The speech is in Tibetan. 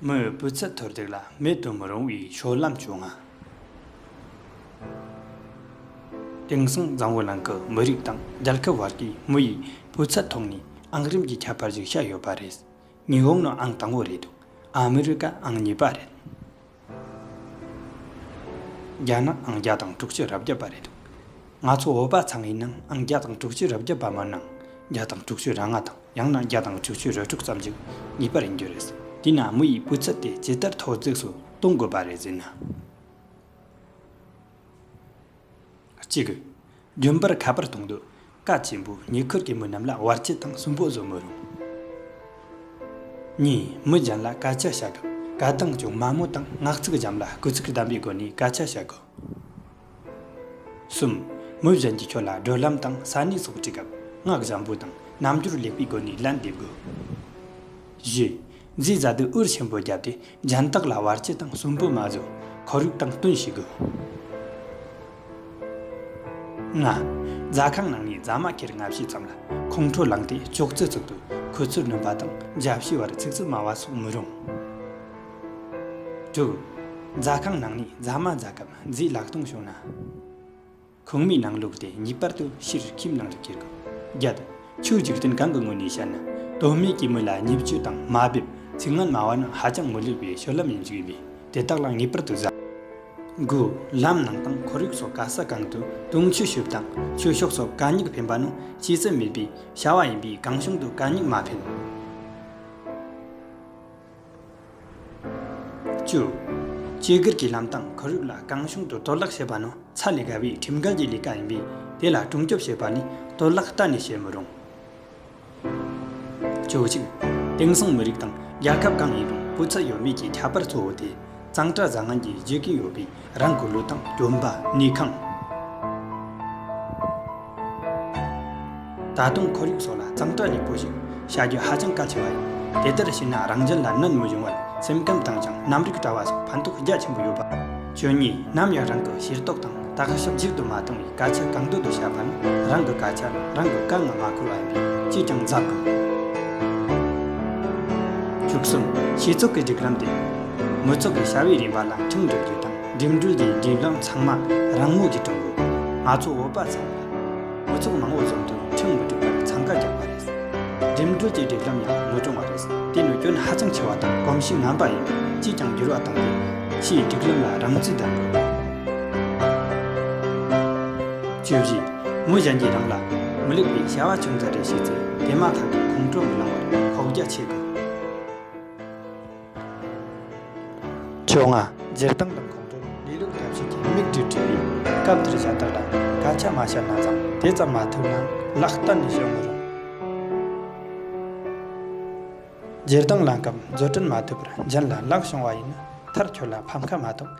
མོས་སྤུས་ཚད་མཐོར་འདེགས་ལ་མེད་དུ་མི་རུང་བའི་ཤོག་ལམ་བྱུང། དེང་སང་གཙང་བོ་ནང་གི་མི་རིགས་དང་རྒྱལ་ཁབ་བར་གྱི་མི་ཡི་སྤུས་ཚད་ཐོག་ནས་ཨང་རིམ་གྱི་ཁྱད་པར་ཞིག་ཤར་ཡོད་པ་རེད། ཉི་ཧོང་ནི་ཨང་དང་བོ་རེད་འདུག་ཨ་མི་རི་ཀ་ཨང་གཉིས་པ་རེད། བརྒྱ་ན་ཨང་བརྒྱ་དང་དྲུག་ཅུ་རབ་བརྒྱ་པ་རེད་འདུག་ང་ཚོ་བོད་པ་ཚང་གི་ནང་ཨང་བརྒྱ་དང་དྲུག་ཅུ་རབ་བརྒྱ་པ་མིན་ནམ་བརྒྱ་དང་དྲུག་ཅུ་ར་ལྔ་དང་ཡང་ན་བརྒྱ་དང་དྲུག་ཅུ་རེ་དྲུག་ཙམ་ཅིག་ཡིད་པར་ཡིན་རྒྱུ་རེད་དེས་ན་མི་ཡི་སྤུས་ཚད་དེ་ཇི་ལྟར་མཐོར་འཛེགས་སུ་གཏོང་དགོས་པ་རེད་ཟེར་ན། གཅིག་གི། རྒྱུན་པར་ཁ་པར་གཏོང་འདོད་སྐད་ཆེན་པོས་ཉེ་འཁོར་གྱི་མི་རྣམས་ལ་བར་ཆད་དང་སུན་པོ་བཟོ་མི་རུང། གཉིས། མི་གཞན་ལ་སྐད་ཆ་བཤད་སྐབས་སྐད་གདངས་ཅུང་དམའ་མོ་དང་ངག་ཚིག་འཇམ་ལ་སྐུལ་ཚིག་ལྡན་པའི་སྒོ་ནས་སྐད་ཆ་བཤད་དགོས། གསུམ། མི་གཞན་གྱིས་ཁྱོད་ལ་བགྲོད་ལམ་དང་ས་གནས་སོགས་དྲིས་སྐབས་ངག་བཞམ་པོ་དང་རྣམ་འགྱུར་ལེགས་པའི་སྒོ་ནས་ལན་འདེབས་དགོས། བཞི། མཛེས་བཟའ་དུས་འུར་ཆེན་པོ་བརྒྱབ་སྟེ་རྒྱན་བཏགས་ལ་བར་སྤྱི་དང་སུན་པོ་མ་བཟོ། ཁོར་ཡུག་དང་བསྟུན་བྱེད་དགོས། ལྔ། རྫ་ཁང་ནང་ནས་རྫ་མ་ཁེར་ལྔ་བྱས་ཙམ་ལ་ཁོང་ཁྲོ་ལངས་ཏེ་ཅོག་ཙེ་བཙུགས་དུས་ཁོ་ཚོས་བསྣུན་པ་དང་འཇའ་བྱེའི་བར་ཚིག་རྩུབ་སྨྲ་བ་སོགས་མི་རུང། དྲུག། རྫ་ཁང་ནང་ནས་རྫ་མ་བཟའ་སྐབས་མཛེས་ལག་སྟོང་བྱུང་ན། གོང་སྨྲས་ནང་ལུགས་དེ་ངེས་པར་དུ་ཕྱིར་ཁྱིམ་ནང་དུ་སྐྱེལ་དགོས། བརྒྱད། ཆོས་འཇིག་རྟེན་གང་གི་ངོས་ནས་བཤད་ན་དོན་སྨྲས་ཀྱི་མི་ལ་ཉེས་སྤྱོད་དང་དམའ་འབེབས་ཚིག་ངན་སྨྲ་བ་ནི་ཧ་ཅང་མི་ལེགས་པའི་ཤོར་ལམ་ཡིན་ཞིག་ཡིན་པས་དེ་དག་ལ་ངེས་པར་དུ་གཟབ་དགོས། ལམ་ནང་དང་ཁོར་ཡུག་སོགས་ག་ས་གང་དུ་དུང་ཆོས་ཞུ་བ་དང་ཆོས་ཕྱོགས་སོགས་གད་སྙིགས་འཕེན་པ་ནི་ཤེས་ཚད་མེད་པའི་བྱ་བ་ཡིན་པས་གང་བྱུང་དུ་གད་སྙིགས་མ་འཕེན། བཅུ། བཅོས་སྒྱུར་གྱི་ལམ་སྟངས་ཁོར་ཡུག་ལ་གང་བྱུང་དུ་གཏོར་བརླག་བྱེད་པ་ནི་ཚ་ལས་བརྒལ་བའི་ཁྲིམས་འགལ་གྱི་ལས་ཀ་ཡིན་པས་དེ་ལ་སྲུང་སྐྱོབ་བྱེད་པ་ནི་གཏོར་བརླག་གཏན་ནས་བྱེད་མི་རུང། བཅུ་གཅིག། དེང་སང་མི་རིགས་དང་རྒྱལ་ཁབ་གང་ཡིན་རུང་སྤུས་ཚད་ཡོད་མེད་ཀྱི་ཁྱད་པར་གཙོ་བོ་དེ་གཙང་སྤྲ་བཟང་ངན་གྱིས་བརྗོད་ཀྱིན་ཡོད་པས་རང་གི་ལུས་དང་བཅོམ་པ་ནས་ཁང། ད་དུང་ཁོར་ཡུག་སོགས་ལ་གཙང་སྦྲ་ལེགས་པོ་ཞིག་བྱ་རྒྱུ་ཧ་ཅང་གལ་ཆེ་བ་ཡིན། དེ་ལྟར་བྱས་ན་རང་བཞིན་ལ་གནོད་མི་འབྱུང་བར་སེམས་ཁམས་དྭངས་ཞིང་རྣམ་རིག་བཀྲ་བ་སོགས་ཕན་ཐོགས་རྒྱ་ཆེན་པོ་ཡོད་པ། བཅུ་གཉིས། ནམ་ཡང་རང་གི་ཤེས་རྟོགས་དང་བརྟག་ཞིབ་མཇུག་ཏུ་མ་བཏང་བའི་དགག་བྱ་གང་འདོད་དུ་བྱ་བ་ནི་རང་གི་དགག་བྱ་རང་གི་བཀའ་ལ་མ་འཁོར་བ་ཡིན་པས་ཅིས་ཀྱང་འཛག་གོ། བཅུ་གསུམ། ཤེས་ཚོགས་ཀྱི་སྒྲིག་ལམ་སྟེ། མི་ཚོགས་ཀྱི་བྱ་བའི་རིམ་པ་ལ་ཁྲིམས་སྒྲིག་རྒྱུ་དང་འགྲིམ་འགྲུལ་གྱི་སྒྲིག་ལམ་ཚང་མ་རང་མོས་ཀྱིས་བསྐྲུན་དགོས། ང་ཚོ་བོད་པ་ཚང་མས་མི་ཚོགས་མང་བོ་བཟོ་དུས་ཁྲིམས་མི་སྒྲིག་པར་འཚང་ཁ་རྒྱག་པ་རེད། འགྲིམ་འགྲུལ་གྱི་སྒྲིག་ལམ་ཡང་མི་སྐྲུང་བ་རེད། དེ་ནི་སྐྱོན་ཧ་ཅང་ཆེ་བ་དང་གོམས་གཤིས་ངན་པ་ཡིན་པས་ཅིས་ཀྱང་འགྱུར་བ་གཏོང་དགོས། ཕྱིའི་སྒྲིག་ལམ་ལ་རང་བརྩིས་ལྡན་དགོས། བཅོས་བཞི། མོ་གཞན་གྱིས་རང་ལ་མི་ལེགས་པའི་བྱ་བ་ཅུང་ཟད་རེ་བྱས་ཚེ་དེ་མ་ཐག་ཏུ་ཁོང་ཁྲོ་མི་ལང་བར་ཁོག་རྒྱ་ཆེ་དགོས། བཅོས་ལྔ། སྦྱིར་བཏང་དང་ཁོང་ཁྲོ་ལས་ལོག་ཐབས་ཤེས་ཀྱི་དམིགས་འབྲས་བྲིས་པའི་སྐབས་འདིར་བྱ་བཏགས་ལ་དགག་བྱ་མ་བྱས་ན་ཙམ་དེ་ཙམ་མ་ཐུབ་ན་ལག་གཏན་ནས་བཤོལ་མི་རུང། སྦྱིར་བཏང་ལངས་སྐབས་མཛོད་སྐྲུན་མ་ཐུབ་པར་འཇིན་ལ་ལག་བྱུང་བ་ཡིན་ན་མཐར་ཁྱོད་ལ་ཕམ་ཁ་མ་གཏོགས